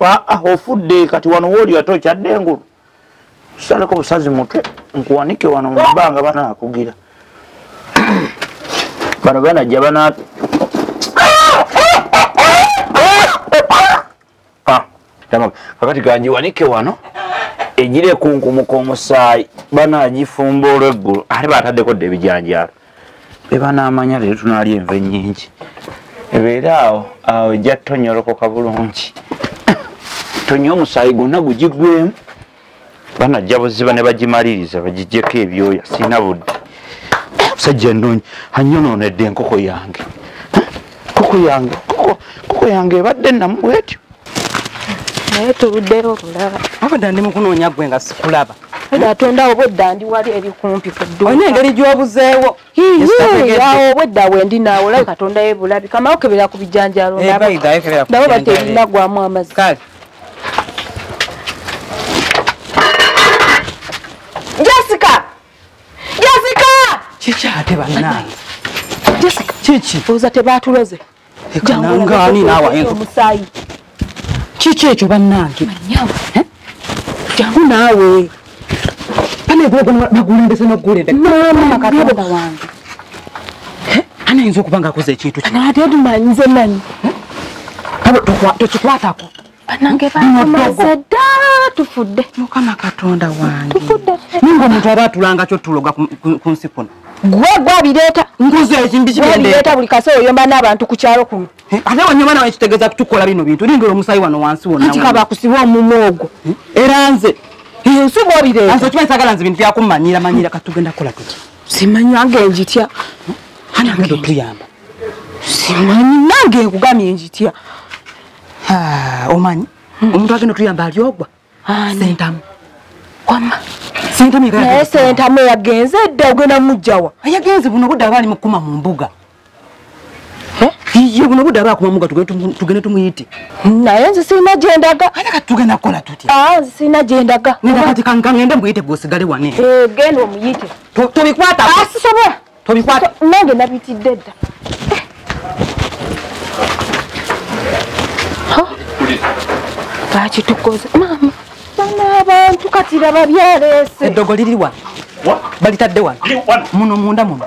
ah, ofudde kati wano wooli ate okyadde engulu saleko busazi mutwe nkuwanike wano mubbanga banakugira bano banajja bana ah, kakati kanjiwanike wano egirekunkumuk'omusaayi banagifumba olweggulo ate bataddeko dda ebijanjaalo eba n'amanya leero tunaalya enva ennyingi ebeere awo awo ejja tonyolokoka bulungi tonywa omusaayi gwonna gugigwemu banajja buziba ne bagimaliriza bagijjeko ebyoya sirina budde musajja nnungi anyonoonedde enkoko yange koko yange koko yange ebadde namu bwetyo naye tuluddeyo okulaba abadde ndi mukunoonya gwe nga sikulaba atonda obwedda ndi wali eri kumpi kuduolina engeri gyobuzeewo awo obwedda wendi naawe olabe katonda yebulabi kamao kebera ku bijanjalo eh, nabo batelinagwamu amazi jessica jessica kiki ate banange jessica kiki oza tebatuloze ekanangaani naawe ayinza omusaayi kiki ekyo bannange eh? jangu naawe anegulembese nokugulembeakatonda wange eh? anayinza okuba nga akoze ekintu kinatemanyizemanyi eh? tokikwatako banange baamaze dda tufudde mukama katonda wange tufudde naye ngaomuntu aba atulanga kyo tuloga ku nsi kuno gwe gwabireeta nkuzo ekimbi kibireeta buli kase oyomba n'abantu ku kyalo kuno ate wanyuma nawe kitegeeza kutukola bino bintu lindira omusayi wano wansi wonanti kabakusiba omumu ogwo era nze ensi gwabireeta nze okimanyi sagala nze bintu byakumanyira manyira katugenda kukola tuti simanyanga enjitya anagenda otuyamba simanyi nange nkugamye enjitya Ah, omanyi hmm. omuntu agenda otuyamba alyogwa sentamu wama naye sentamu yagenze edda ogenda mujjawa yagenze buno budde aba ali mukuma mu mbuga iye buno budde aba akuma muga tugende tumuyite naye nze sirina gyendaga ate kati tugenda kukola tutya ah, nze sirina gyendaga neda kati kangende mbuyite gwosigale wane eh, genda omuyite tobikwata asisobola ah, tobikwata nange nabitidde dda lwaki tukoze maama bana abantu kati laba byaleese eddogo liri wano balitadde wano muno munda muno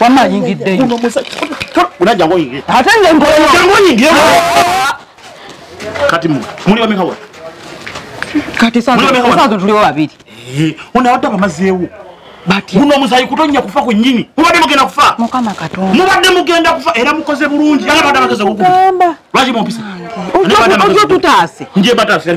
wama ayingiddeyo ate nze nkoyingire kati muli bamekawa kati sasa tuliwo babiri eh, ono abadde abamazeewo guno omusayi kutonya kufa kwenyini mubadde mugenda kufa mubadde mugenda kufa era mukoze bulungi lwaki mumpisa nje batasa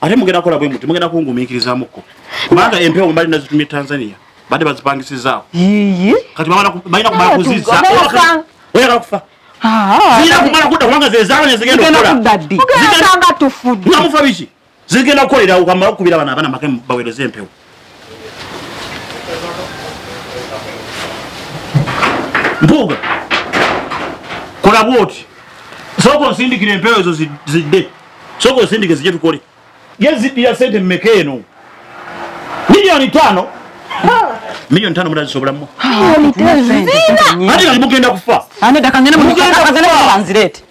ate mugenda kola bwe muti mugenda kungumiikirizamuko kubanga empewo mbali nazitumye tanzania bade bazipangisizaako kati balina kumala kuziza oyagala kufa ah. zirina kumala kudda kubanga zezaala nezigenda okolamufa biki zigenda kukolerawo kamala okukubira bana abana make bawereze empewo mpuuga kola bwoti sooka onsindikira empewo ezo zidde sooka onsindike zije tukole ye ziddira sente mumeka eno miliyoni tano miliyoni tano munazisobolamu ati kati mugenda kufa